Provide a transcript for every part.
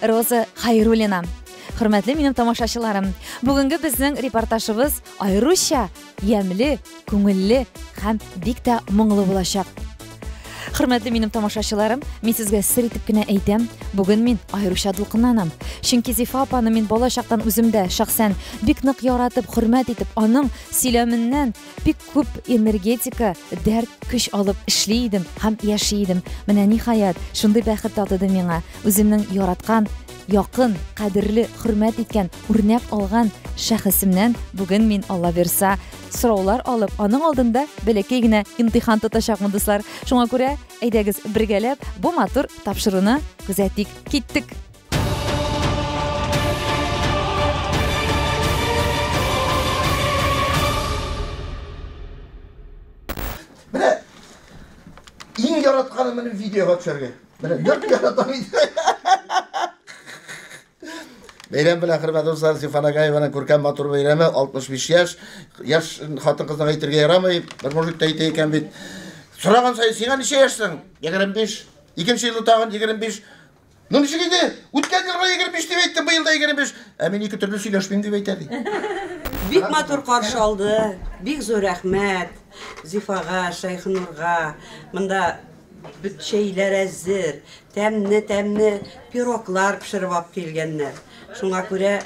Роза Хәйруллина. Хөрмәтле минем тамашачыларым, бүгенге безнең репортажыбыз аеруча ямьле, күңелле һәм бик тә моңлы булачак. Хөрмәтле минем тамашачыларым, мин сезгә сер итеп кенә әйтәм, бүген мин аеруча дулкынланам. Чөнки Зифа апаны мин балачактан үземдә шәхсән бик нык яратып, хөрмәт итеп, аның сөйләменнән бик күп энергетика дәрт көч алып эшли идем һәм яши идем менә ниһаять шундый бәхет татыды миңа үземнең яраткан якын кадерле хөрмәт иткән үрнәк алган шәхесемнән бүген мин алла бирса сораулар алып аның алдында бәләкәй генә имтихан тотачакмын дуслар шуңа күрә әйдәгез бергәләп бу матур тапшыруны күзәтик киттек Менә иң яратканым менә видеога төшәргә. Менә нык яратам инде. Бәйрәм белән хөрмәтле дуслар, Сифана Гаеваның күркәм матур бәйрәме 65 яшь. Яшь хатын-кызга әйтергә ярамый. Бер мужик та әйтә икән бит. Сораган сай, сиңа ничә яшьсең? 25. Икенче елы тагын 25. Ну ничек инде? Үткән елга 25 дип әйтте, быел да 25. Ә мин ике төрле сөйләшмим дип әйтә ди. Бик матур каршы алды. Бик зур рәхмәт Зифага, Шәйхнурга. Монда бит чәйләр әзер, тәмне-тәмне пироглар пешереп алып килгәннәр. Шуңа күрә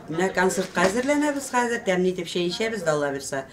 менә концертка әзерләнәбез хәзер, тәмле итеп чәй эчәбез дә алла бирса.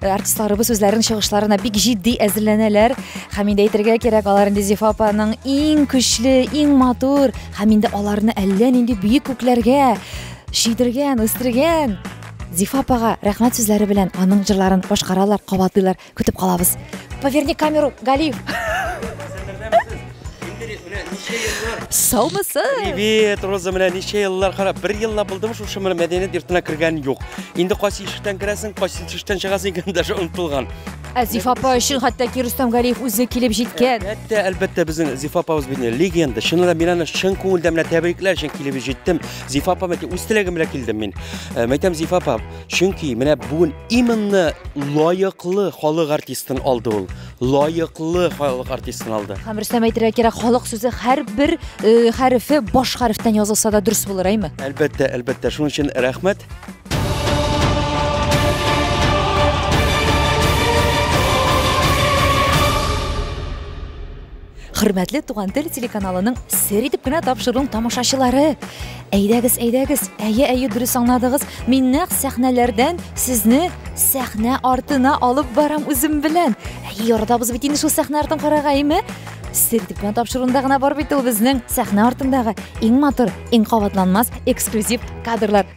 Э, артистларыбыз үзләренең чыгышларына бик җитди әзерләнәләр һәм инде әйтергә кирәк алар инде зифа апаның иң көчле иң матур һәм инде аларны әллә нинди бөек күкләргә чөйдергән үстергән зифа апага рәхмәт сүзләре белән аның җырларын башкаралар кабатлыйлар көтеп калабыз поверни камеру галиев Саумысы! Привет, Роза, менә ничә еллар карап, бер елла булдым шушы менә мәдәният йортына кергән юк. Инде кайсы ишектән керәсең, кайсы ишектән чыгасың икән даже онытылган. Ә Зиф апа өчен хәтта ки Рөстәм Галиев үзе килеп җиткән. Әлбәттә, әлбәттә безнең Зиф апабыз бит легенда. Чыннан да мин аны чын күңелдән менә тәбрикләр өчен килеп җиттем. Зиф апа мәтә үз теләгем белән килдем мин. Э, мәйтәм Зиф апа, чөнки менә бүген именно лаеклы халык артистын алды ул. лаеклы халык артистын алды. Һәм Рөстәм әйтергә кирәк, халык сүзе һәрбер э, хәрефе баш хәрефтән язылса да дөрес булыр, әйме? Әлбәттә, әлбәттә, шуның өчен рәхмәт. Хөрмәтле Туган тел телеканалының сер итеп кенә тапшыруын тамашачылары. Әйдәгез, әйдәгез. Әйе, әйе, дөрес аңладыгыз. Мин нәкъ сәхнәләрдән сезне сәхнә артына алып барам үзем белән. Әйе, яратабыз бит инде шул сәхнә артын карарга, әйме? Сер итеп кенә тапшыруында гына бар бит ул безнең сәхнә артындагы иң матур, иң кабатланмас эксклюзив кадрлар.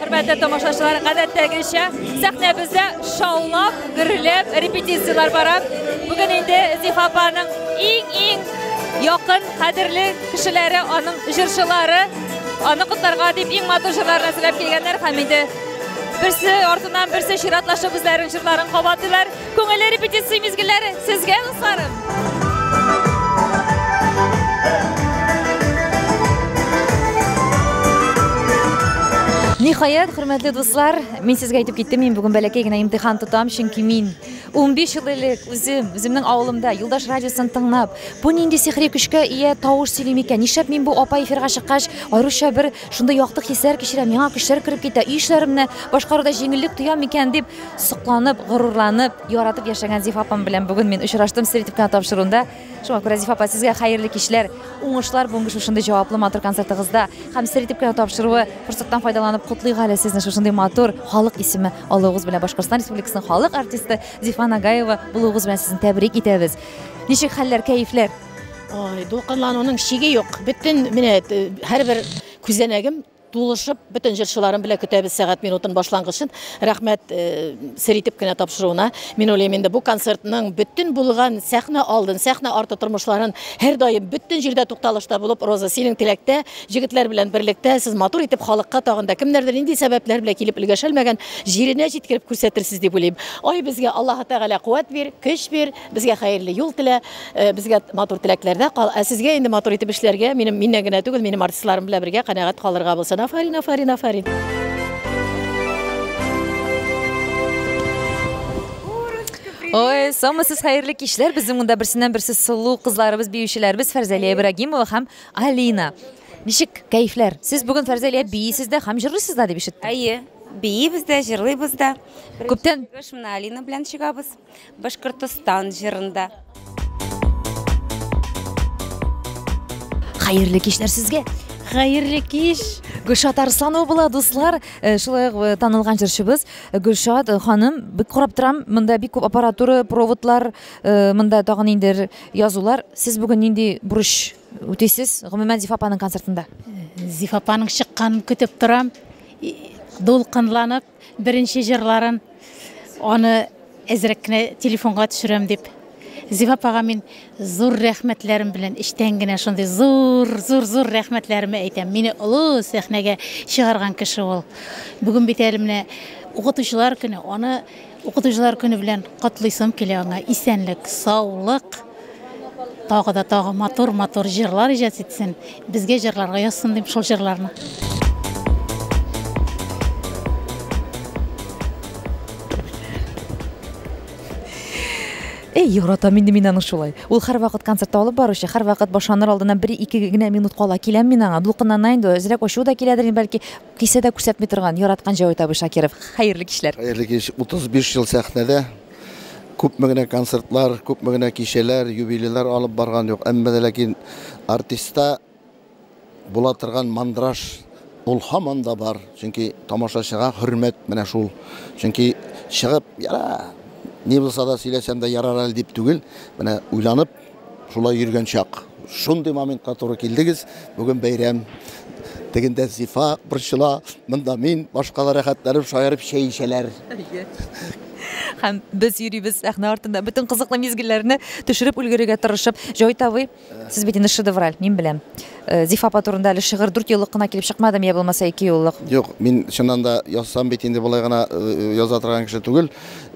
Хөрмәтле тамашачылар, гадәттәгечә сәхнәбездә шаулап, гөрләп репетицияләр бара. Бүген инде Зифа апаның иң-иң якын, кадерле кешеләре, аның җырчылары, аны котларга дип иң матур җырларны сөйләп килгәннәр һәм инде берсе артыннан берсе чиратлашып үзләренең җырларын кабатлыйлар. Күңелле репетиция мизгелләре сезгә, дусларым! Ниһаять, хөрмәтле дуслар, мин сезгә әйтеп киттем, мин бүген бәләкәй генә имтихан тотам, чөнки мин 15 ел элек үзем, үземнең авылымда Юлдаш радиосын тыңлап, бу нинди сихри көчкә ия тавыш сөйли микән? Нишләп мин бу апа эфирга чыккач, аеруча бер Шундый якты хисләр кичерәм, яңа көчләр кереп китә. Өй эшләремне башкаруда җиңеллек тоям микән дип сокланып, горурланып, яратып яшәгән Зифа апам белән бүген мин очраштым Средив кына тапшыруында. Шуңа күрә Зифа апа сезгә хәерле кичләр, уңышлар бүгенге шушындый җаваплы матур концертыгызда һәм Средив кына тапшыруы форсаттан файдаланып котлыйк әле сезне шушындый матур халык исеме алуыгыз белән Башкортстан Республикасының халык артисты Зифа Нагаева булуыгыз белән сезне тәбрик итәбез. Ничек хәлләр, кәефләр? Ой, дулкынлануның чиге юк. Бөтен менә һәрбер күзәнәгем тулышып, бөтен җырчыларым белән көтәбез сәгать минутын башлангычын. Рәхмәт э, сер итеп кенә тапшыруына. Мин уйлыйм инде бу концертның бөтен булган сәхнә алдын, сәхнә арты тормышларын һәр даим бөтен җирдә тукталышта булып Роза синең теләктә, җегетләр белән берлектә сез матур итеп халыкка тагында кемнәрдер нинди сәбәпләр белән килеп өлгәшәлмәгән җиренә җиткереп күрсәтерсез дип уйлыйм. Ай безгә Аллаһы Тәгалә куәт бир, көч бир. Безгә хәерле юл телә, э, безгә матур теләкләрдә кал. Ә сезгә инде матур итеп эшләргә, минем миннән генә түгел, минем артистларым белән бергә канәгать калырга булсын. Афарин, афарин, афарин. Ой, сомасыз хәерле кичләр. Безнең монда берсеннән берсе сылу кызларыбыз, биючеләрбез Фәрзәлия Ибрагимова һәм Алина. Ничек кәйфләр? Сез бүген Фәрзәлия биисез дә һәм җырлыйсыз да дип ишеттем. Әйе, биибез дә, җырлыйбыз да. Күптән- Чыгыш менә Алина белән чыгабыз. Башкортостан җырында. Хәерле кичләр сезгә! Хәерле кич! Гөлшат Арсланова була, дуслар. Э, шулай ук э, танылган җырчыбыз э, Гөлшат ханым. Бик карап торам, монда бик күп аппаратура, проводлар, монда тагын инде язулар. Сез бүген нинди бурыч үтисез? Гомумән Зифа апаның концертында. Зифа апаның чыкканын көтеп торам. Дулкынланып, Беренче җырларын аны әзрәк кенә телефонга төшерәм дип. Зифа апага мин зур рәхмәтләрем белән эчтән генә шундый зур, зур, зур рәхмәтләремә әйтәм. Мине олы сәхнәгә чыгарган кеше ул. Бүген бит әле менә укытучылар көне, аны укытучылар көне белән котлыйсым килә аңа. Исәнлек, саулык. Тагы да тагы матур матур җырлар иҗат итсен, безгә җырларга язсын дим шул җырларны. Эй, яратам инде мин аны шулай. Ул һәрвакыт концертта алып баручы, һәрвакыт башланыр алдыннан бер ике генә минут кала киләм мин аңа. Дулкынлана инде, әзрәк ачуы да киләдер инде бәлки. Кисә дә күрсәтми торган, яраткан Җәвит абый Шакиров. Хәерле кичләр. Хәерле кич. 35 ел сәхнәдә, Күпме генә концертлар, күпме генә кичәләр, юбилейлар алып барган юк, әмма дә ләкин артистта була торган мандраж ул һаман да бар. Чөнки тамашачыга хөрмәт менә шул. Чөнки чыгып, яра, ни булса да сөйләсәм дә ярар әле дип түгел, менә уйланып, Шулай йөргән чак. Шундый моментка туры килдегез. Бүген бәйрәм. Тегендә Зифа борчыла, монда мин, башкалар рәхәтләнеп шаярып чәй эчәләр. Һәм без йөрибез сәхнә артында, бөтен кызыклы мизгелләрне төшереп өлгерергә тырышып. Җавит абый, сез бит инде шедевраль, мин беләм. Э, Зифа апа турында әле шигырь дүрт еллык кына килеп чыкмадымы, я булмаса ике еллык? Юк, мин чыннан да язсам бит инде болай гына э, яза торган кеше түгел.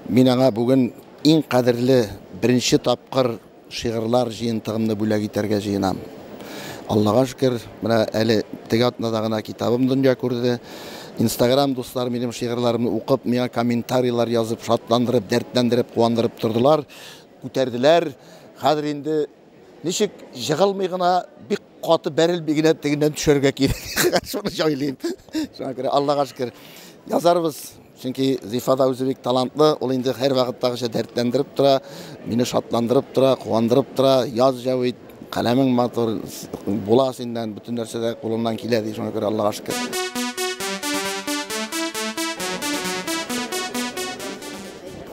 Мин аңа бүген Иң кадерле беренче тапкыр шигырьлар җыентыгымны бүләк итәргә җыенам. Аллага шөкер, менә әле теге атнада гына китабым дөнья күрде. Инстаграм дусларым минем шигырьләремне укып, миңа комментарийлар язып, шатландырып, дәртләндереп, куандырып тордылар, күтәрделәр. Хәзер инде. Ничек җыгылмый гына, бик каты бәрелми генә тегеннән төшәргә кирәк. Шуны җайлыйм. Шуңа күрә Аллага шөкер, язарбыз. Чөнки Зифа да үзе бик талантлы, ул инде һәр вакыттагыча дәртләндереп тора, мине шатландырып тора, куандырып тора. Яз Җәвит, каләмең матур, була синнән, бөтен нәрсә дә кулыннан килә ди, шуңа күрә Аллага шөкер.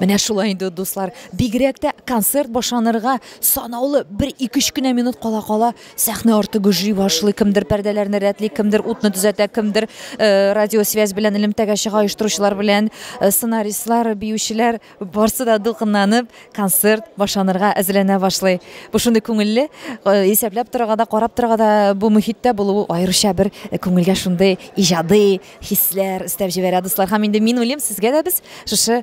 Менә шулай инде, дуслар, бигрәк тә концерт башланырга Санаулы, бер-ике өч кенә минут кала-кала, сәхнә арты гөжли башлый. Кемдер пәрдәләрне рәтли, кемдер утны төзәтә, кемдер радиосвязь белән элемтәгә чыга, оештыручылар белән сценаристлар, биючеләр, барсы да дулкынланып, концерт башланырга әзерләнә башлый. Бу шундый күңелле, исәпләп торырга да, карап торырга да бу мөхиттә булу аеруча бер күңелгә шундый иҗади хисләр өстәп җибәрә, дуслар. Һәм инде мин уйлыйм, сезгә дә без шушы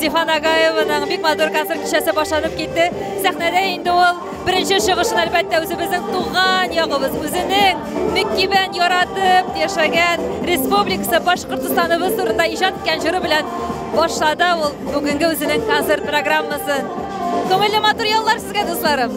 Зифан Агаеваның бик матур концерт кичәсе башланып китте. Сәхнәдә инде ул беренче чыгышын әлбәттә үзебезнең туган ягыбыз, үзенең мөкибән яратып яшәгән республикасы Башкортстаныбыз турында иҗат иткән җыры белән башлады ул бүгенге үзенең концерт программасын. Күңелле матур яллар сезгә, дусларым!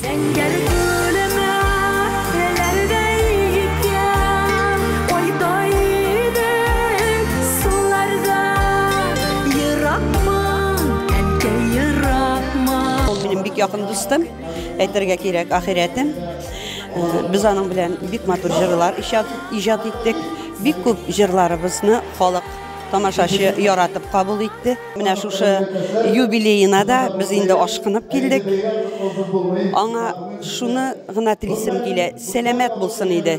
Зәңгәр күлемә теләрдәй икән, Кайда идең суларда? Еракмы, әнкәй, еракмы? Ул минем бик якын дустым, әйтергә кирәк, ахирәтем. Без аның белән бик матур җырлар иҗат иттек. Бик күп җырларыбызны халык, тамашачы яратып кабул итте. Менә шушы юбилеена да без инде ашкынып килдек. Аңа шуны гына телисем килә, сәламәт булсын иде.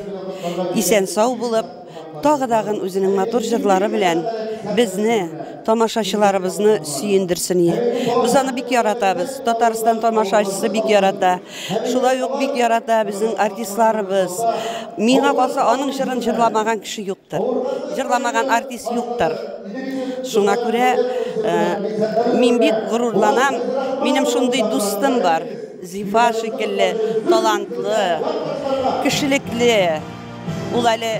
Исән сау булып, тагы дагын үзенең матур җырлары белән безне, тамашачыларыбызны сөендерсен. Без аны бик яратабыз. Татарстан тамашачысы бик ярата. Шулай ук бик ярата безнең артистларыбыз. Миңа калса, аның җырын җырламаган кеше юктыр. Җырламаган артист юктыр. Шуңа күрә э, мин бик горурланам. Минем шундый дустым бар. Зифа шикелле талантлы, кешелекле. Ул әле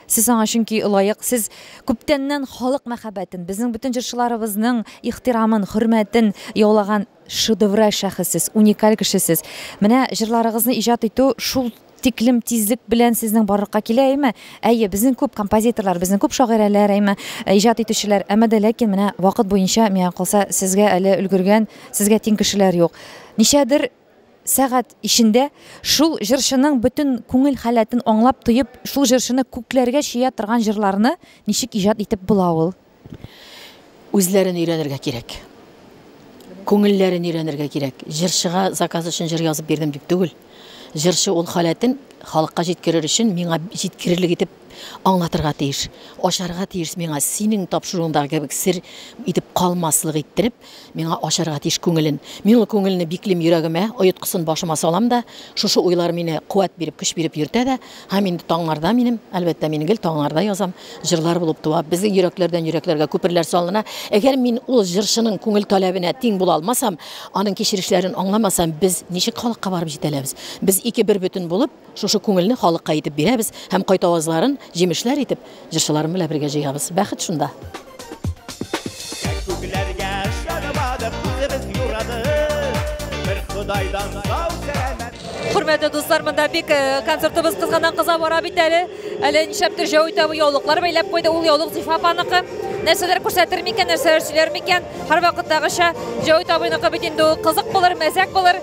Сез аңа чөнки лаек, сез күптәннән халык мәхәббәтен, безнең бөтен җырчыларыбызның ихтирамын, хөрмәтен яулаган шедевраль шәхессез, уникаль кешесез. Менә җырларыгызны иҗат итү шул тиклем тизлек белән сезнең барлыкка килә, әйме? Әйе, безнең күп композиторлар, безнең күп шагыйрәләр, әйме, иҗат итүчеләр, әмма дә ләкин менә вакыт буенча, миңа калса, сезгә әле өлгергән, сезгә тиң кешеләр юк. Ничәдер Сәгать эчендә шул җырчының бөтен күңел халәтен аңлап тоеп, шул җырчыны күкләргә чөя торган җырларны ничек иҗат итеп була ул? Үзләрен өйрәнергә кирәк. Күңелләрен өйрәнергә кирәк. Җырчыга заказ өчен җыр язып бирдем дип түгел. Җырчы ул халәтен халыкка җиткерер өчен миңа җиткерерлек итеп Аңлатырга тиеш, ачарга тиеш миңа, синең тапшыруыңдагы кебек сер итеп калмаслык иттереп, миңа ачарга тиеш күңелен. Мин ул күңелне биклим йөрәгемә, оеткысын башыма салам да, шушы уйлар мине куәт биреп, көч биреп йөртә дә, һәм инде таңнарда минем, әлбәттә, мин гел таңнарда язам, җырлар булып туа, безнең йөрәкләрдән йөрәкләргә күперләр салына. Әгәр мин ул җырчының күңел таләбенә тиң була алмасам, аның кичерешләрен аңламасам, без ничек халыкка барып җитәләбез? Без ике бербөтен булып, Шушы күңелне халыкка итеп бирәбез һәм кайт авазларын җимешләр итеп җырчыларым белән бергә җыябыз. Бәхет шунда! Күкләргә чыгмадык, үзебез юрадык, бер Ходайдан сау сәламәт. Хөрмәтле дуслар, монда бик концертыбыз кызганнан кыза бара бит әле. Әле нишләптер җәү итә бу яулыклар бәйләп куйды. Ул яулык Зифа апаныкы. Нәрсәләр күрсәтер микән, нәрсәләр сөйләр микән? Һәрвакыттагыча, Җәүит абыйныкы бит инде ул кызык булыр, мәзәк булыр.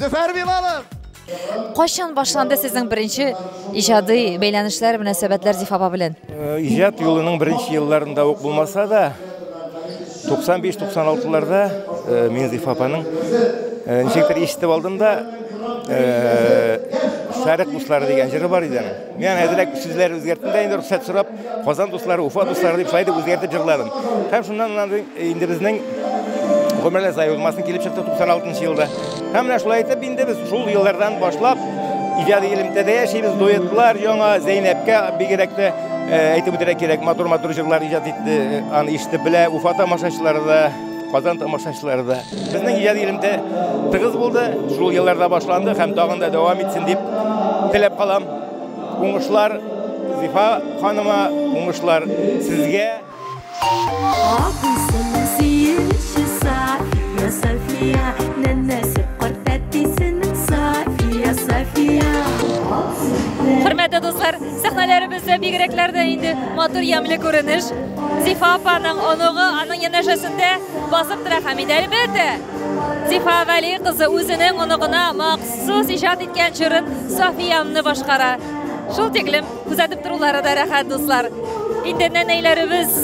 Зөфәр Билалов! Кайчан башланды сезнең беренче иҗади бәйләнешләр, мөнәсәбәтләр Зифа апа белән? Э, иҗат юлының беренче елларында ук булмаса да, 95-96-ларда э, мин Зифа апаның э, ничектер ишетеп алдым да, Сәрек кушлары дигән җыры бар иде. Мин әзрәк сүзләр үзгәрттем дә инде рөхсәт сорап, Казан дуслары, Уфа дуслары дип шулай дип үзгәртеп җырладым. Һәм шуннан аннан инде безнең гомерләр заи булмасын килеп чыкты 96 елда. Һәм менә шулай итеп инде без шул еллардан башлап иҗади элемтәдә яшибез, дуэтлар яңа Зәйнәпкә бигрәк тә әйтеп үтәргә кирәк, матур-матур җырлар иҗат итте, аны ишетеп белә Уфа тамашачылары да. Казан тамашачылары да безнең иҗади элемтә тыгыз булды, шул елларда башланды һәм тагын да дәвам итсен дип теләп калам. Уңышлар Зифа ханыма, уңышлар сезгә. Хөрмәтле дуслар, сәхнәләребездә бигрәкләр дә инде матур ямьле күренеш. Зифа апаның оныгы аның янәшәсендә басып тора һәм инде әлбәттә, Зифа Вәли кызы үзенең оныгына махсус иҗат иткән җырын Сафиямны башкара. Шул тиклем күзәтеп торулары да рәхәт, дуслар. Инде нәнәйләребез,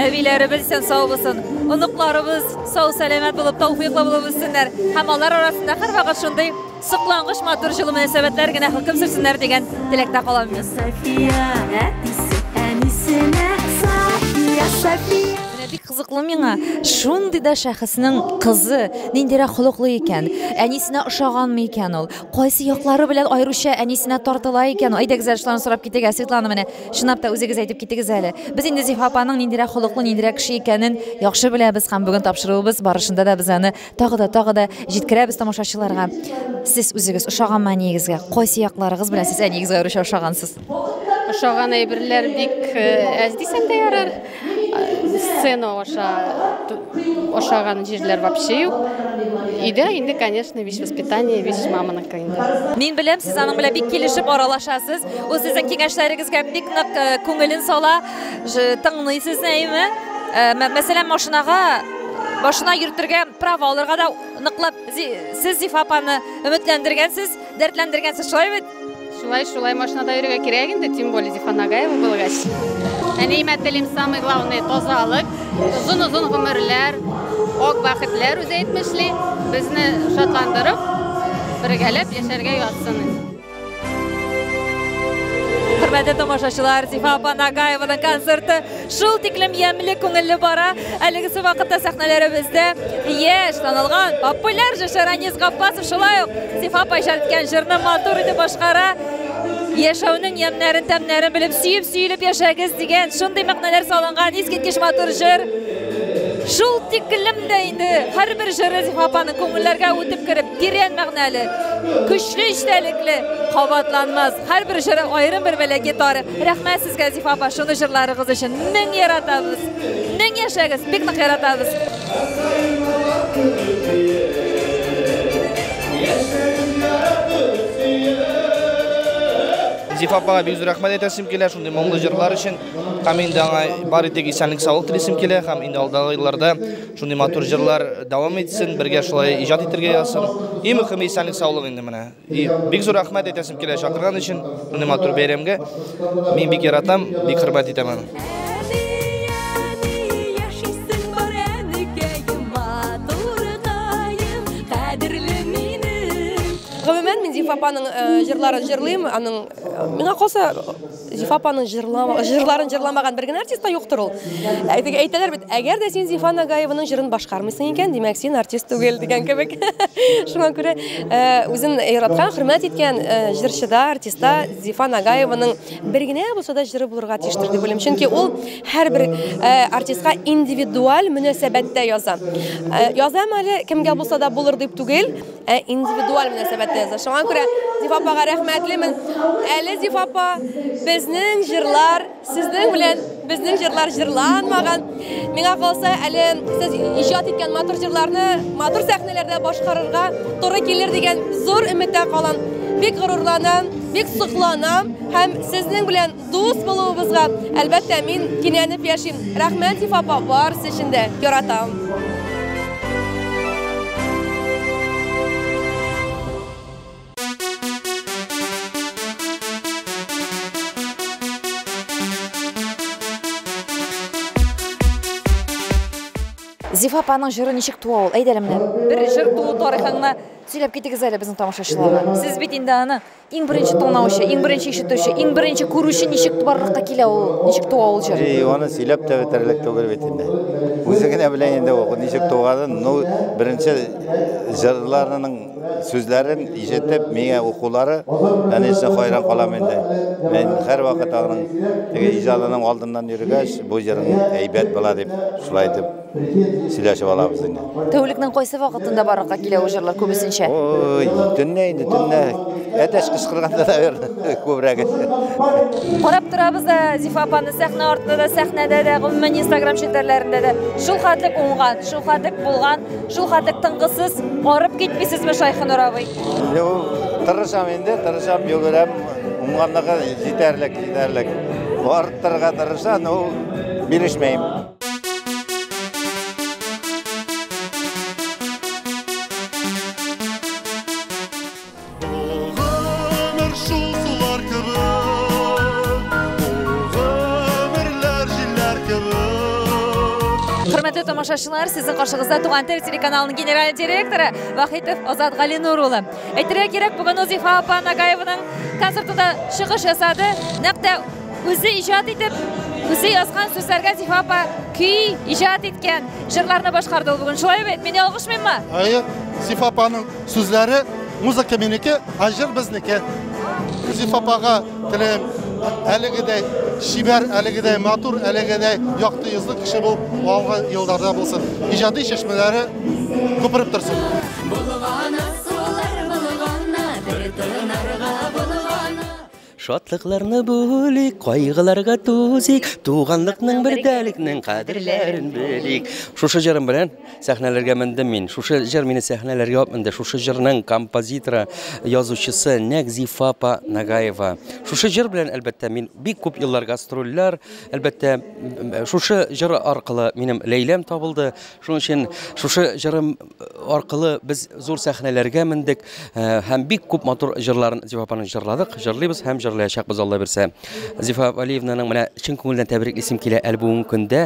әбиләребез исән сау булсын. Оныкларыбыз сау-сәламәт булып, тауфыйклы булып үссеннәр. Һәм алар арасында һәрвакыт шундый Соклангыч матур җылы мөнәсәбәтләр генә хөкем сөрсеннәр дигән теләктә калам мин. София, әтисе, әнисенә София, София. Менә бик кызыклы миңа, шундый да шәхеснең кызы ниндирәк холыклы икән, әнисенә ошаганмы икән ул, кайсы яклары белән аеруча әнисенә тартыла икән? Әйдәгез әле шуларны сорап китик, ә Светлана менә чынлап та үзегез әйтеп китегез әле. Без инде Зифа апаның ниндирәк холыклы, ниндирәк кеше икәнен яхшы беләбез һәм бүген тапшыруыбыз барышында да без аны Тагы да, тагы да җиткерәбез тамашачыларга. Сез үзегез ошаганмы әниегезгә? Кайсы якларыгыз белән сез әниегезгә аеруча ошагансыз? Ошаган әйберләр бик э, әз дисәм дә ярар. Э, сцена аша ошаган җирләр вообще юк. Өйдә инде, конечно, вещь воспитание, вещь маманыкы инде. Мин беләм, сез аның белән бик килешеп аралашасыз. Ул сезнең киңәшләрегезгә бик нык э, күңелен сала, тыңлый сезне, әйме? Мәсәлән, машинага башына йөртергә право алырга да ныклап сез зифа апаны өметләндергәнсез дәртләндергәнсез шулай бит шулай шулай машинада йөрергә кирәк инде тем более зифа нагаева булгач әниемә телим самый главный тазалык озын озын гомерләр ак бәхетләр үзе әйтмешли безне шатландырып бергәләп яшәргә язсын Хөрмәтле тамашачылар, Зифа апа Нагаеваның концерты шул тиклем ямьле, күңелле бара. Әлегесе вакытта сәхнәләребездә яшь танылган популяр җырчы Ранис Гаппасов шулай ук Зифа апа иҗат иткән җырны матур итеп башкара. Яшәүнең ямьнәрен, тәмнәрен белеп, сөеп, сөелеп яшәгез дигән шундый мәгънәләр салынган искиткеч матур җыр. Шул тиклем дә инде һәрбер җыры Зифа апаның күңелләргә үтеп кереп Тирән мәгънәле, көчле эчтәлекле, кабатланмас. Һәрбер җыры аерым бер бәләкәй тарих. Рәхмәт сезгә, Зифа апа, шуны җырларыгыз өчен. Мең яратабыз. Мең яшәгез, бик нык яратабыз. Зифа апага бик зур рәхмәт әйтәсем килә шундый моңлы җырлар өчен. Һәм инде аңа бар итек исәнлек саулык телисем килә һәм инде алдагы елларда Шундый матур җырлар дәвам итсен, бергә шулай иҗат итергә язсын. И мөхиме исәнлек, саулык инде менә. И бик зур рәхмәт әйтәсем килә чакырган өчен, шундый матур бәйрәмгә. Мин бик яратам, бик хөрмәт итәм аны. Гомумән, мин Зифа апаның җырларын җырлыйм, аның миңа калса Зифа апаның җырлама, җырларын җырламаган бер генә артист та юктыр ул. Әйтеге әйтәләр бит, әгәр дә син Зифа Нагаеваның җырын башкармыйсың икән, димәк син артист түгел дигән кебек. Шуңа күрә э, үзен яраткан, хөрмәт иткән э, җырчыда, артистта Зифа Нагаеваның бер генә булса да җыры булырга тиештер дип уйлыйм. Чөнки ул һәрбер э, артистка индивидуаль мөнәсәбәттә яза. Язам әле кемгә булса да булыр дип түгел. Ә индивидуаль мөнәсәбәтегездә. Шуңа күрә Зифа апага рәхмәтлемен. Әле Зифа апа безнең җырлар, сезнең белән безнең җырлар җырланмаган. Миңа калса, әле сез иҗат иткән матур җырларны матур сәхнәләрдә башкарырга туры килер дигән зур өметтә калам. Бик горурланам, бик сокланам һәм сезнең белән Дус булуыбызга, әлбәттә, мин кинәнеп яшим. Рәхмәт, Зифа апа, барысы өчен дә. Яратам. Зифа апаның җыры ничек туа ул? Әйдә әле менә. Бер җыр туу тарихыңны сөйләп китегез әле безнең тамашачыларга. Сез бит инде аны Иң беренче тыңлаучы, иң беренче ишетүче, иң беренче күрүче ничек барлыкка килә ул, ничек туа ул җыр? И, аны сөйләп тә бетерлек түгел бит инде. Үзе генә белә инде ул ничек туганын. Ну, беренче җырларының сүзләрен ишетеп, миңа укулары, конечно, хайран калам инде. Мин һәр вакыт аның теге иҗадының алдыннан йөргәч, бу җырың әйбәт була дип, шулай итеп сөйләшеп алабыз инде. Тәүлекнең кайсы вакытында барлыкка килә ул җырлар күбесенчә? Ой, төнлә инде, төнлә. Әтәч кычкырганда да бер күбрәк. Карап торабыз да Зифа апаны сәхнә артында да, сәхнәдә дә, гомумән Instagram челтәрләрендә дә. Шул хәтлек уңган, шул хәтлек булган, шул хәтлек тынгысыз, арып китмисезме Шайхинур абый? Юк, тырышам инде, тырышам, йөгерәм. Уңганлыгы җитәрлек, җитәрлек. Арттырырга тырыша, но бирешмәйм. Хөрмәтле тамашачылар, сезнең каршыгызда Туган тел телеканалының генераль директоры Вахитов Азат Галинур улы. Әйтергә кирәк, бүген Узифа апа Нагаеваның концертында чыгыш ясады. Нәкъ тә Үзе иҗат итеп, үзе язган сүзләргә Зифа апа көй иҗат иткән, җырларны башкарды ул бүген. Шулай бит, мин ялгышмыйммы? Әйе, Зифа апаның сүзләре, музыка минеке, ә җыр безнеке. Зифа апага теләйм, әлегедәй шибәр, әлегедәй матур, әлегедәй якты йөзле кеше бул, алга елларда булсын. Иҗади чәчмәләре күпереп торсын. Булганы сулар булганы, бер тынарга булганы. Шатлыкларны бүлик, кайгыларга тузик, туганлыкның бердәлекнең кадерләрен белик. Шушы җырым белән сәхнәләргә мендем мин. Шушы җыр мине сәхнәләргә алып менде. Шушы җырның композиторы, язучысы нәкъ Зифа апа Нагаева. Шушы җыр белән, әлбәттә, мин бик күп еллар гастрольләр, әлбәттә, шушы җыр аркылы минем Ләйләм табылды. Шуның өчен шушы җырым аркылы без зур сәхнәләргә мендек э, һәм бик күп матур җырларын Зифа апаның җырладык, җырлыйбыз һәм җырлаячакбыз Алла бирсә. Зифа Валиевнаның менә чын күңелдән тәбрик исем килә әле бүгенге көндә.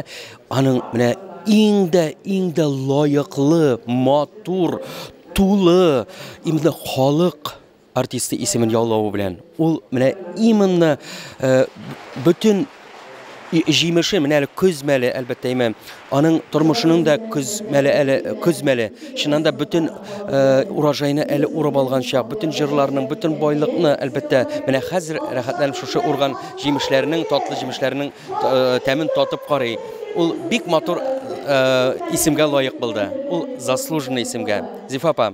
Аның менә иң дә иң дә лаеклы, матур, тулы, именно халык Артисты исемен яулавы белән, ул менә именно бөтен җимеше менә әле көз мәле, әлбәттә, имә аның тормышының да көз мәле әле көз мәле. Чыннан да бөтен урожайны әле урып алган чак, бөтен җырларның, бөтен байлыкны, әлбәттә, менә хәзер рәхәтләнеп шушы урган җимешләрнең, татлы җимешләрнең тәмен татып карый. Ул бик матур исемгә лаек булды. Ул заслуженный исемгә. Зифа апа,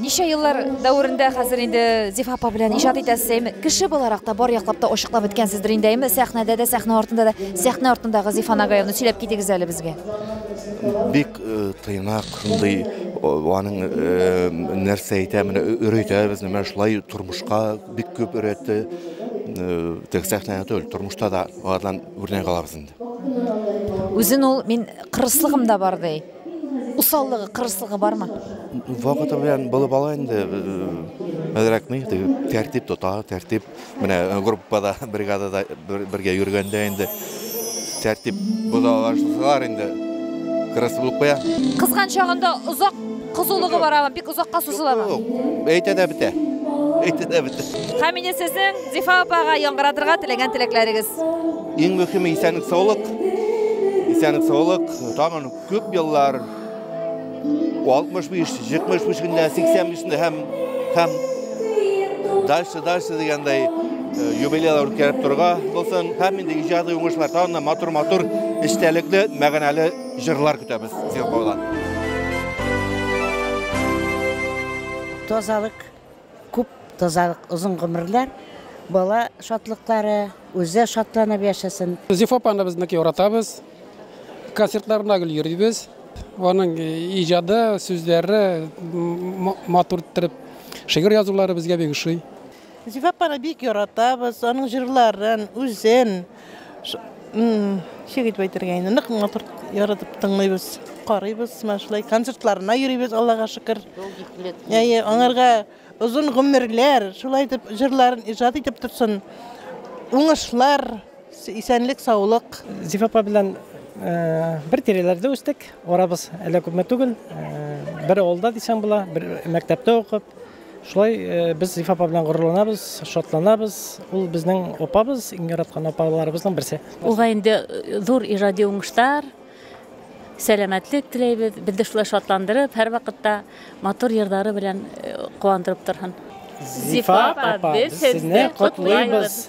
Ничә еллар дәверендә хәзер инде Зифа апа белән иҗат итәсез, әйме? Кеше буларак та бар яклап та ачыклап беткәнсездер инде, әйме? Сәхнәдә дә, сәхнә артында да. Сәхнә артындагы Зифа Нагаевны сөйләп китегез әле безгә. Бик э, тыйнак, шундый аның э, нәрсә әйтә, менә өйрәтә безне, менә шулай тормышка бик күп өйрәтте. Э, Тек сәхнәдә түгел, тормышта да алардан үрнәк алабыз инде. Үзен ул мин кырыслыгым да бар ди. Усаллыгы, кырыслыгы бармы? Вакыты белән булып ала инде. Мәдрәк ни, тәртип тота, тәртип. Менә э, группада, бригадада бергә йөргәндә инде тәртип бозалар инде. Кырыс булып куя. Кызган чагында озак кызулыгы барамы? Бик озакка сузыламы? Әйтә дә бетә. Әйтә дә бетә. Хәмидә сезнең Зифа апага яңгыратырга теләгән теләкләрегез. Иң мөхиме исәнлек саулык. Исәнлек саулык. Тагын күп еллар 65, 75 көндә, 80 көндә һәм һәм дальше дальше дигәндәй э, юбилейлар үткәреп торырга булсын. Һәм инде иҗади уңышлар тагын матур матур эчтәлекле, мәгәнәле җырлар көтәбез. Сезгә Тазалык, Күп тазалык, озын гомерләр, бала шатлыклары, үзе шатланып яшәсен. Зифа апаны без нык яратабыз. Концертларына гел йөрибез. Аның иҗады, сүзләре матур иттереп, шигырь язулары безгә бик ошый. Зифа апаны бик яратабыз, аның җырларын, үзен. Ничек итеп әйтергә инде, нык матур яратып тыңлыйбыз, карыйбыз, менә шулай концертларына йөрибез, Аллага шөкер. Әйе, аңарга озын гомерләр, шулай итеп җырларын иҗат итеп торсын. Уңышлар, исәнлек, саулык. Зифа апа белән э, бер тирәләрдә үстек. Арабыз әллә күпме түгел. Э, бер авылда дисәң була, бер мәктәптә укып, Шулай без Зифа апа белән горурланабыз, шатланабыз. Ул безнең апабыз, иң яраткан апаларыбызның берсе. Уга инде зур иҗади уңышлар, сәламәтлек теләйбез. Безне шулай шатландырып, һәрвакытта матур йырлары белән куандырып торһын. Зифа апа, без сезне котлыйбыз!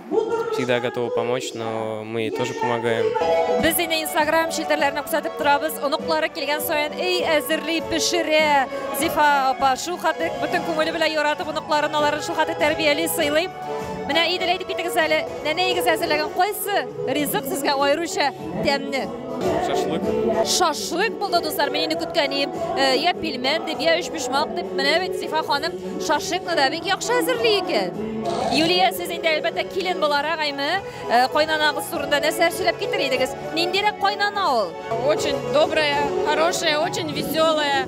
всегда готова помочь, но мы ей тоже помогаем. Без инде инстаграм челтәрләренә күрсәтеп торабыз. Оныклары килгән саен эй әзерли, пешерә. Зифа апа шул хәтлек бөтен күңеле белән яратып оныкларын, аларын шул хәтлек тәрбияли, сыйлый. Менә Идел әйтеп китегез әле, нәнәегез әзерләгән кайсы ризык сезгә аеруча тәмне? Шашлык. Шашлык булды, дуслар. Мин инде көткән идем. Э, я пельмен дип, я өчпочмак дип. Менә бит Сифа ханым шашлыкны да бик яхшы әзерли икән. Юлия, сез инде әлбәттә килен буларак әйме, э, кайнанагыз турында нәрсә сөйләп китер идегез? Ниндирәк кайнана ул? Очень добрая, хорошая, очень веселая.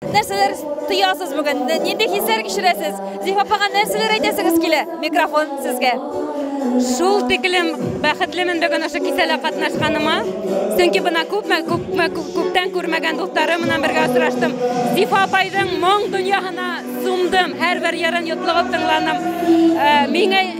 Нәрсәләр тоясыз бүген? Нинди хисләр кичерәсез? Зифа апага нәрсәләр әйтәсегез килә? Микрофон сезгә. Шул тиклем бәхетлемен бүген ошо кисәлә катнашканыма. Чөнки бына күпме, күпме, күптән күрмәгән дусларым менән бергә очраштым. Зифа апайның моң дөньяһына сумдым. Һәрбер ярын йотлыгып тыңланым. Э, миңа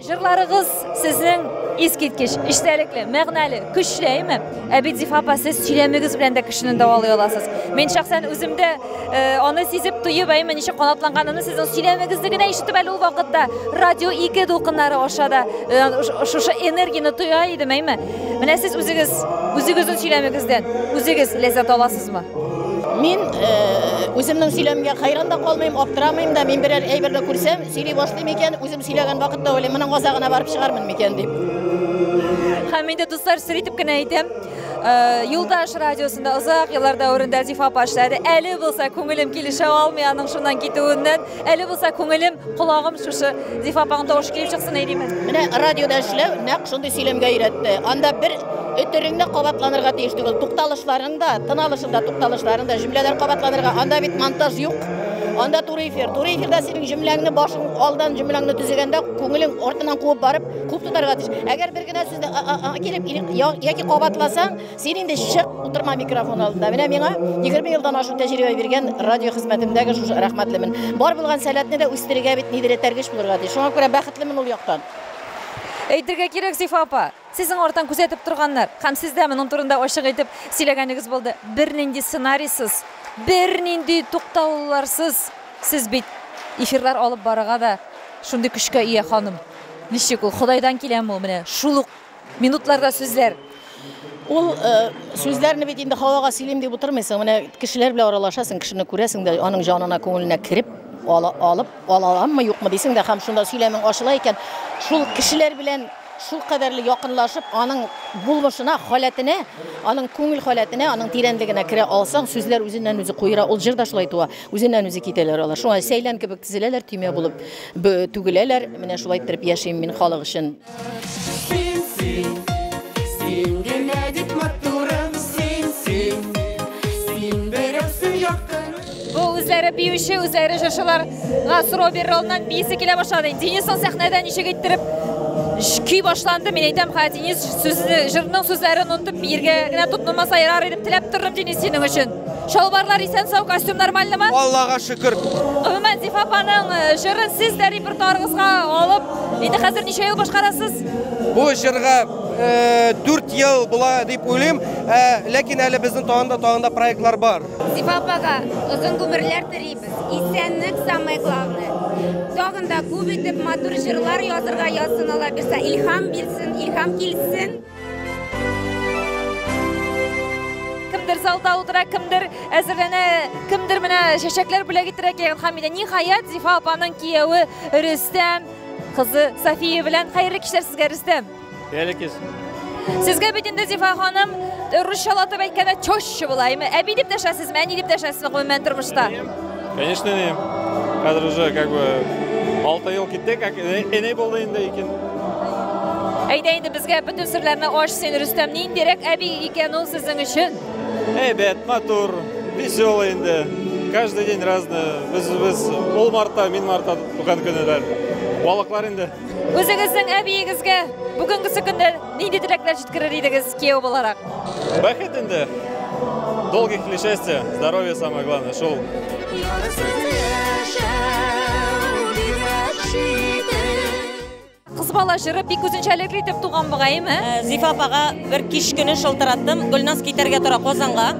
Җырларыгыз сезнең искиткеч, эчтәлекле, мәгънәле, көчле, әйме? Ә бит Зифа апа, сез сөйләмегез белән дә кешене дәвалый аласыз. Мин шәхсән үзем дә э, аны сизеп, тоеп, әйме, ничек канатланганын сезнең сөйләмегезне генә ишетеп әле ул вакытта радио 2 дулкыннары аша да э, шушы энергияне тоя идем, әйме? Менә сез үзегез, үзегезнең сөйләмегездән үзегез ләззәт аласызмы? Мин э, үземнең сөйләмгә хәйран да калмыйм, аптырамыйм да, мин берәр әйбер дә күрсәм, Сөйли башлый микән, үзем сөйләгән вакытта уйлыйм, моның азагына барып чыгармын микән дип. Һәм инде дуслар сер итеп кенә әйтәм, э, Юлдаш радиосында озак еллар дәверендә Зифа апа эшләде. Әле булса күңелем килешә алмый аның шуннан китүеннән. Әле булса күңелем, колагым шушы Зифа апаның тавышы килеп чыксын әйдимен. Менә радиода эшләү нәкъ шундый сөйләмгә өйрәтте. Анда бер өтереңдә кабатланырга тиеш түгел. Тукталышларың да, тын алышында тукталышларың да, җөмләләр кабатланырга. Анда бит монтаж юк. Анда туры эфир. Туры эфирда синең җөмләңне башың алдан җөмләңне төзегәндә күңелең артыннан куып барып, күп тотарга тиеш. Әгәр бер генә сүзне килеп яки кабатласаң, син инде чык, утырма микрофон алдында. Менә миңа 20 елдан ашу тәҗрибә биргән радио хезмәтендәге шушы рәхмәтлемен. Бар булган сәләтне дә үстерергә бит нидер этәргеч булырга тиеш. Шуңа күрә бәхетлемен ул яктан. Әйтергә кирәк, Сифа апа, Сезнең арттан күзәтеп торганнар. Һәм сез дә моның турында ачык әйтеп сөйләгәнегез булды. Бернинди сценарийсыз, бернинди туктаулыларсыз сез бит эфирлар алып барырга да шундый көчкә ия, ханым. Ничек ул, Ходайдан киләме ул менә шул ук минутларда сүзләр? Ул сүзләрне бит инде һавага сөйлим дип утырмыйсың. Менә кешеләр белән аралашасың, кешене күрәсең дә, аның җанына, күңеленә кереп, алып, ала аламмы, юкмы дисең дә, һәм шунда сөйләмең ачыла икән. Шул кешеләр белән Шулкадәрле якынлашып, аның булмышына, халәтенә, аның күңел халәтенә, аның тирәнлегенә керә алсаң, сүзләр үзеннән-үзе куера. Ул җыр да шулай туа, үзеннән-үзе китәләр алар. Шуңа сәйлән кебек тезеләләр, төймә булып түгеләләр. Менә шулай иттереп яшим мин халык өчен. Бу үзләре биюче, үзләре җырчыларга сорау бирер алдыннан биисе килә башлады. Денисның сәхнәдә ничек иттереп көй башланды, мин әйтәм, ха Денис сүзне, җырның сүзләрен онтып биергә генә тотынмаса ярар идем, теләп тордым Денис синең өчен. Шалбарлар исән сау, костюм нормальныймы? Аллага шөкер. Гомумән Зифа апаның э, җырын сез дә репертуарыгызга алып, инде хәзер ничә ел башкарасыз? Бу җырга 4 э, ел була дип уйлыйм, э, ләкин әле безнең тагында тагында проектлар бар. Зифа апага озын гомерләр телибез. Исәнлек самое главное. Тагын да күп итеп матур җырлар язырга язсын Алла бирсә, илһам бирсен, илһам килсен. Кемдер залда утыра, кемдер әзерләнә, кемдер менә чәчәкләр бүләк иттерә килгән Хәмидә. Ниһаять, Зифа апаның кияве Рөстәм кызы София белән хәерле кичләр сезгә, Рөстәм! Бәләкис. Сезгә бит инде Зифа ханым русчалатып әйткәндә чощ булаймы? Әби дип дәшәсезме, әни дип дәшәсезме гомумән тормышта? Конечно, не. Хәзер уже как бы 6 ел китте, как эней булды инде икән. Әйдә инде безгә бөтен серләрне аш син, Рөстәм, ниндирәк әби икән ул сезнең өчен? Әйбәт, матур, веселый инде. Каждый день разное. Без без ул марта, мин марта туган көннәр. Балыклар инде. Үзегезнең әбиегезгә бүгенгесе көндә нинди теләкләр җиткерер идегез кияү буларак? Бәхет инде. Долгих лет счастья, здоровья самое главное. Шул. Кыз бала җыры бик үзенчәлекле итеп туган бугаймы? Э, Зифа апага бер кич көне шылтыраттым. Гөлназ китәргә тора Казанга.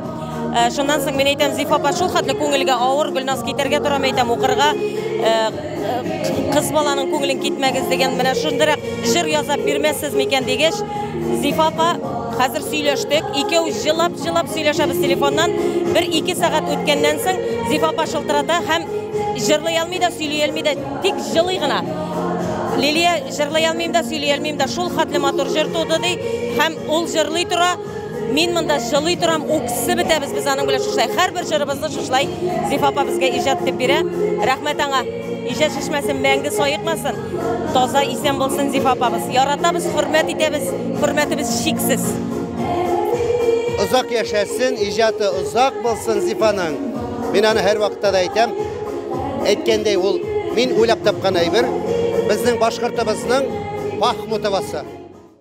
Э, шуннан соң мин әйтәм, Зифа апа шул хәтле күңелгә авыр, Гөлназ китәргә тора, әйтәм, укырга. Э, Кыз баланың күңелен китмәгез дигән менә шундырак җыр ясап бирмәссез микән дигәч, Зифа апа хәзер сөйләштек, икәү җылап-җылап сөйләшәбез телефоннан. Бер ике сәгать үткәннән соң Зифа апа шылтырата һәм җырлый алмый да, сөйли алмый да, тик җылый гына. Лилия җырлый алмыйм да, сөйли алмыйм да, шул хәтле матур җыр туды ди һәм ул җырлый тора. Мин монда җылый торам, үксе бетәбез без аның белән шушай. Һәрбер җырыбызны шушай Зифа апа безгә иҗат итеп бирә. Рәхмәт аңа. Иҗат чишмәсен мәңге саекмасын. Таза исән булсын Зифа апабыз. Яратабыз, хөрмәт итәбез. Хөрмәтебез чиксез. Озак яшәсен, иҗаты озак булсын Зифаның. Мин аны һәр вакытта да әйтәм. Әйткәндәй, ул мин уйлап тапкан әйбер. Безнең башкортыбызның Пахмутовасы.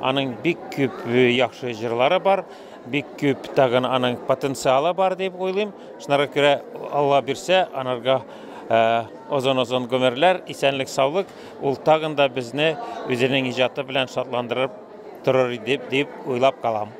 Аның бик күп э, яхшы җырлары бар, бик күп тагын аның потенциалы бар дип уйлыйм. Шунара күрә Алла бирсә, анарга э, озын-озын гомерләр, исәнлек, саулык, ул тагын да безне үзенең иҗаты белән шатландырып торыр дип дип уйлап калам.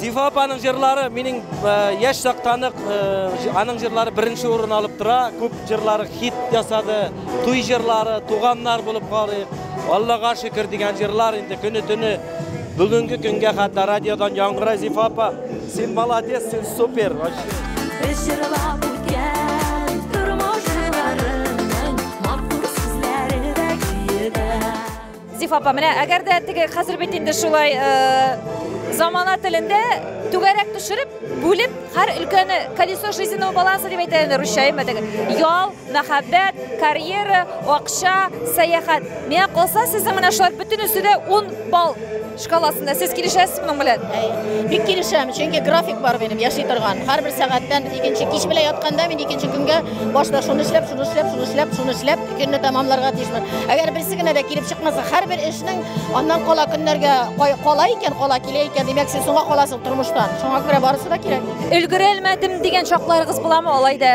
Зифа апаның җырлары минем яшь чактан ук аның җырлары беренче урын алып тора. Күп җырлары хит ясады. Туй җырлары, туганнар булып карыйк, Аллага шөкер дигән җырлар инде көне-төне бүгенге көнгә хәтта радиодан яңгырай Зифа апа. Син молодец, син супер. Без җырлап үткән тормыш җырларының матур сүзләре дә көе дә. Зифа апа, менә әгәр дә теге хәзер бит инде шулай замана телендә түгәрәк төшереп, бүлеп, һәр өлкәне колесо жизненного баланса дип әйтә инде русча, әйме теге. Ял, мәхәббәт, карьера, акча, сәяхәт. Менә калса сезнең менә шулар бөтенесе дә 10 балл шкаласында сез килешәсез моның белән бик килешәм чөнки график бар минем яши торган һәрбер сәгатьтән икенче кич белән ятканда мин икенче көнгә башта шуны эшләп шуны эшләп шуны эшләп шуны эшләп көнне тәмамларга тиешмен әгәр берсе генә дә килеп чыкмаса һәрбер эшнең аннан кала көннәргә кала икән кала килә икән димәк син соңга каласың тормыштан шуңа күрә барысы да кирәк өлгерә алмадым дигән чакларыгыз буламы алай да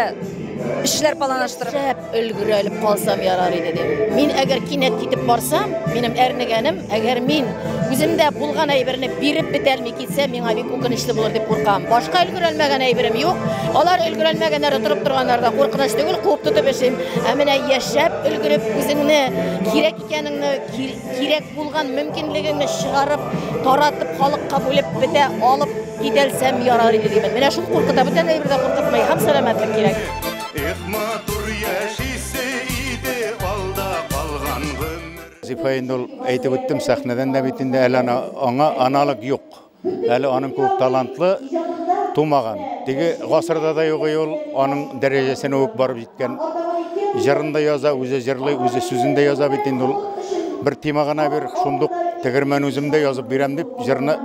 эшләр планлаштырып Өлгерә элеп калсам ярар иде дип. Мин әгәр кинәт китеп барсам, минем әрнегәнем, әгәр мин үземдә булган әйберне биреп бетәлми китсә, миңа бик үкенечле булыр дип куркам. Башка өлгерәлмәгән әйберем юк. Алар өлгерәлмәгәннәр, торып торганнар да куркыныч түгел, куып тотып эшлим. Ә менә яшәп өлгереп үзеңне кирәк икәнеңне, кирәк булган мөмкинлегеңне чыгарып, таратып халыкка бүлеп бетә алып китәлсәм ярар иде димен. Менә шул куркыта, бүтән әйбер дә куркытмый, һәм сәламәтлек кирәк. Эх, матур яшисе иде алда калган гомер. Зифа инде ул әйтеп үттем сәхнәдән дә бит инде әле аңа аналог юк. Әле аның күк талантлы тумаган. Теге гасырда да юк ул аның дәрәҗәсенә үк барып җиткән. Җырын да яза, үзе җырлый, үзе сүзен дә яза бит инде ул. Бер тема гына бир, шундук тегермән үзем дә язып бирәм дип җырны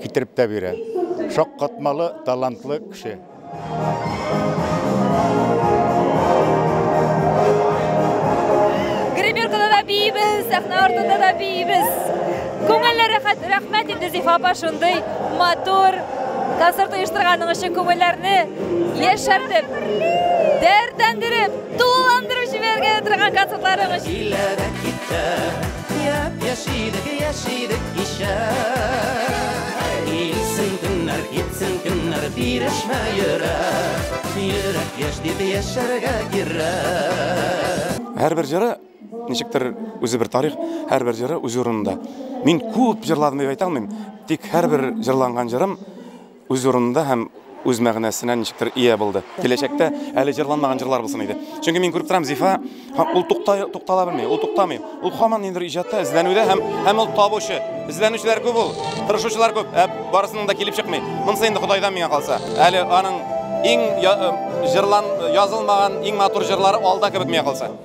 китереп тә бирә. Шаккатмалы, талантлы кеше. Гримеркада да бейбіз, сәхнә артында да бейбіз. Күңелле рәхәт, рәхмәт инде Зифа апа шундый матур концерт оештырганың өчен күңелләрне яшәртеп, дәртләндереп, тулыландырып җибәргә торган концертларың өчен. Килә дә китә, Һәрбер җыры ничектер үзе бер тарих, һәрбер җыры үз урынында. Мин күп җырладым дип әйтә алмыйм, тик һәрбер җырланган җырым үз урынында һәм үз мәгънәсенә ничектер ия булды. Киләчәктә әле җырланмаган җырлар булсын иде. Чөнки мин күреп торам, Зифа һәм ул туктай туктала белми, ул туктамый. Ул хаман ниндидер иҗатта эзләнүдә һәм һәм ул табучы. Эзләнүчеләр күп ул, тырышучылар күп, ә барысының да килеп чыкмый. Монысы инде Ходайдан миңа калса. Әле аның иң җырлан язылмаган иң матур җырлары алда кебек миңа калса.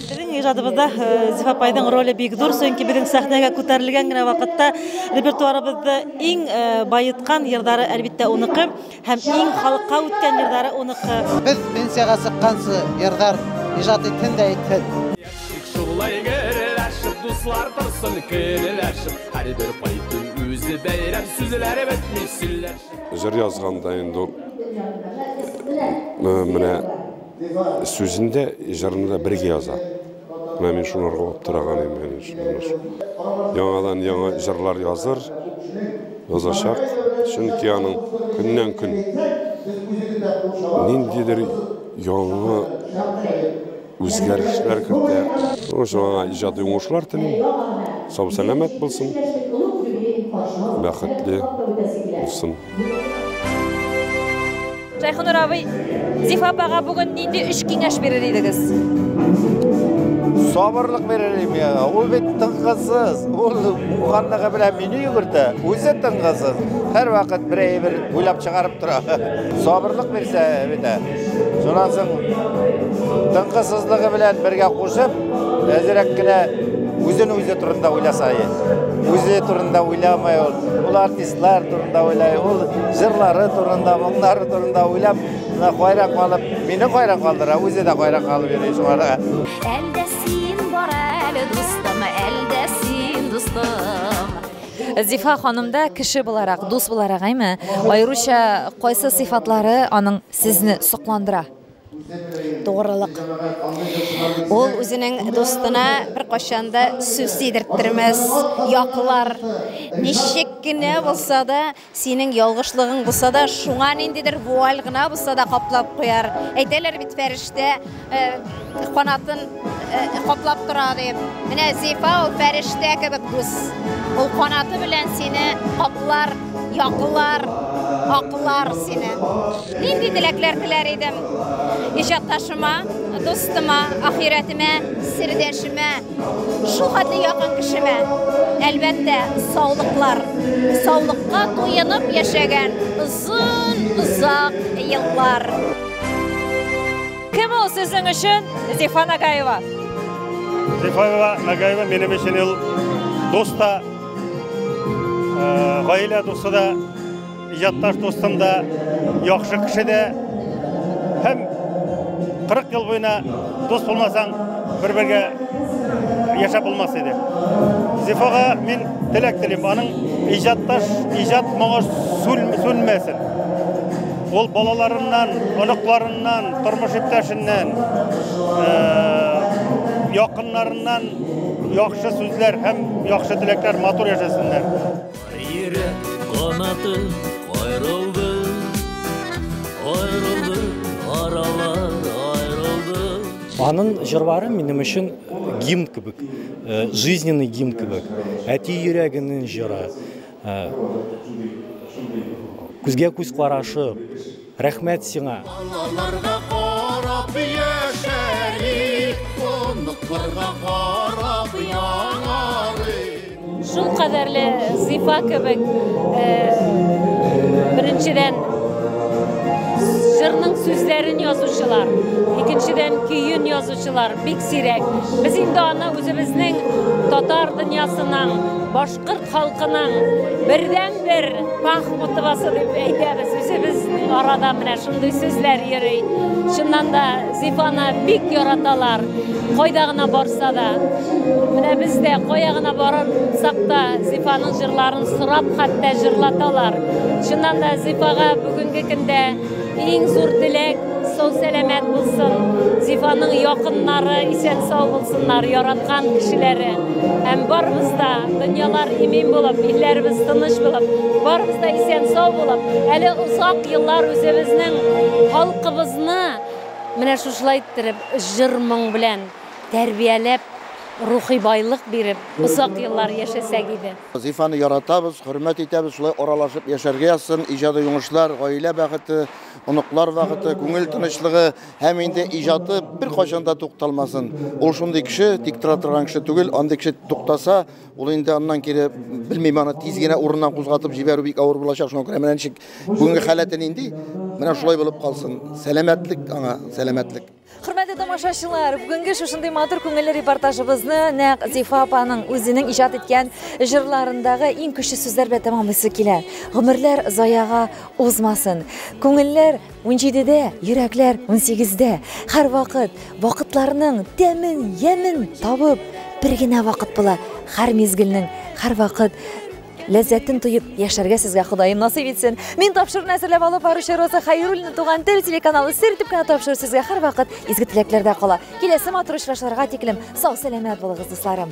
Безнең иҗадыбызда э, Зифа апайның роле бик зур, чөнки безнең сәхнәгә күтәрелгән генә вакытта репертуарыбызда иң э, баеткан йырдары әлбиттә уныкы һәм иң халыкка үткән йырдары уныкы. Без пенсияга чыкканчы йырдар иҗат итсен дә итсен. Шулай герләшеп, дуслар торсын көлләшеп, һәрбер кайтын үзе бәйрәм сүзләре бетми сөйләшеп. Җыр язганда инде менә Сүзен дә, җырны да бергә яза. Менә мин шуны урлап тораган идем, әнә шуны. Яңадан яңа җырлар языр, язачак, чөнки аның көннән-көн ниндидер яңа үзгәрешләр кертә. Шуның өчен аңа иҗади уңышлар телим. Сау-сәламәт булсын, бәхетле булсын. Шәйхонур абый, Зифа апага бүген нинди өч киңәш бирер идегез? Сабырлык бирер идем я. Ул бит тыңгызсыз. Ул булганлыгы белән мине йөгертә. Үзе тыңгызсыз. Һәр вакыт бер әйбер уйлап чыгарып тора. Сабырлык бирсә бит. Шуннан соң тыңгызсызлыгы белән бергә кушып, әзрәк кенә үзен үзе турында уйласа. Үзе турында уйламай ул. Ул артист Лар турында уйлай, ул җырлары турында, моңнары турында уйлап, мына кайра калып, мине кайра калдыра, үзе дә кайра калып йөри шуңарга. Әлдә син бар әле, дустым, әлдә син, дустым. Зифа ханымда кеше буларак, дус буларак, әйме, аеруча кайсы сыйфатлары аның сезне сокландыра? Тугрылык. Ул үзенең дустына беркайчан да сүз тидерттермәс, яклар. Ничек кенә булса да, синең ялгышлыгың булса да, шуңа ниндидер вуаль гына булса да каплап куяр. Әйтәләр бит, фәрештә канатын каплап тора дип. Менә Зифа ул фәрештә кебек дус. Ул канаты белән сине каплар, якылар, аклар сине. Нинди теләкләр теләр идем? Иҗатташыма, дустыма, ахирәтемә, сердәшемә, шул хәтле якын кешемә. Әлбәттә, саулыклар. Саулыкка туенып яшәгән озын, озак еллар. Кем ул сезнең өчен Зифа Нагаева? Зифа Нагаева минем өчен ул дус та, гаилә дусы да, иҗатташ дустым да, яхшы кеше дә. Һәм 40 ел буена дус булмасаң, бер-бергә яшәп булмас иде. Зифага мин теләк телим, аның иҗатташ, иҗат моңы сүнмәсен. Ул балаларыннан, оныкларыннан, тормыш иптәшеннән, якыннарыннан яхшы сүзләр һәм яхшы теләкләр матур яшәсеннәр. Йөрәк канаты аерылды, аерылды, аралар аерылды. Аның җырлары минем өчен гимн кебек, жизненный гимн кебек. Әти йөрәгенең җыры. Күзгә-күз карашып, рәхмәт сиңа! Балаларга карап яшәрлек, оныкларга карап яңарыйк. Шул кадәрле зифа кебек, беренчедән, җырның сүзләрен язучылар, икенчедән, көен язучылар бик сирәк. Без инде аны үзебезнең татар дөньясының башка Кырт халкының бердәнбер пах мотывасы дип әйтәбез үзебез арада менә шундый сүзләр йөри. Чыннан да Зифаны бик яраталар. Кайда гына барса да. Менә без дә кая гына барсак та Зифаның җырларын сорап хәтта җырлаталар. Чыннан да Зифага бүгенге көндә Иң зур теләк сау сәламәт булсын, Зифаның якыннары исән сау булсыннар, яраткан кешеләре. Һәм барыбыз да дөньялар имин булып, илләребез тыныч булып, барыбыз да исән сау булып, әле озак еллар үзебезнең халкыбызны менә шушылай иттереп җыр-моң белән тәрбияләп, рухи байлык биреп, озак еллар яшәсәк иде. Зифаны яратабыз, хөрмәт итәбез, шулай аралашып яшәргә язсын, иҗади уңышлар, гаилә бәхете, оныклар бәхете, күңел тынычлыгы һәм инде иҗаты беркайчан да тукталмасын. Ул шундый кеше, тик тора торган кеше түгел, андый кеше туктаса, ул инде аннан кире белмим, аны тиз генә урыннан кузгатып җибәрү бик авыр булачак, шуңа күрә менә ничек бүгенге халәте нинди, менә шулай булып калсын. Сәламәтлек аңа, сәламәтлек. Хөрмәтле тамашачылар, бүгенге шушындый матур күңелле репортажыбызны нәкъ Зифа апаның үзенең иҗат иткән җырларындагы иң көчле сүзләр белән тәмамлыйсы килә. Гомерләр заяга узмасын. Күңелләр 17-дә, йөрәкләр 18-дә. Һәрвакыт вакытларның тәмен, ямен табып, бер генә вакыт була. Һәр мизгелнең, һәрвакыт Ләззәтен тоеп яшәргә сезгә Ходаем насыйп итсен. Мин тапшыруны әзерләп алып баручы Роза Хайруллина туган тел телеканалы сер итеп кенә тапшыру сезгә һәрвакыт изге теләкләрдә кала. Киләсе матур очрашуларга тиклем сау сәламәт булыгыз, дусларым.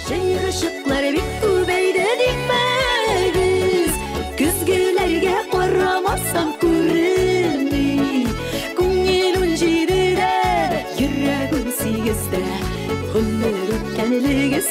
Шыйрышыклар бик күбәйде димәгез, көзгеләргә карамасам күренми. Күңел ун җидедә, йөрәгем сигездә, гомер үткәнлегез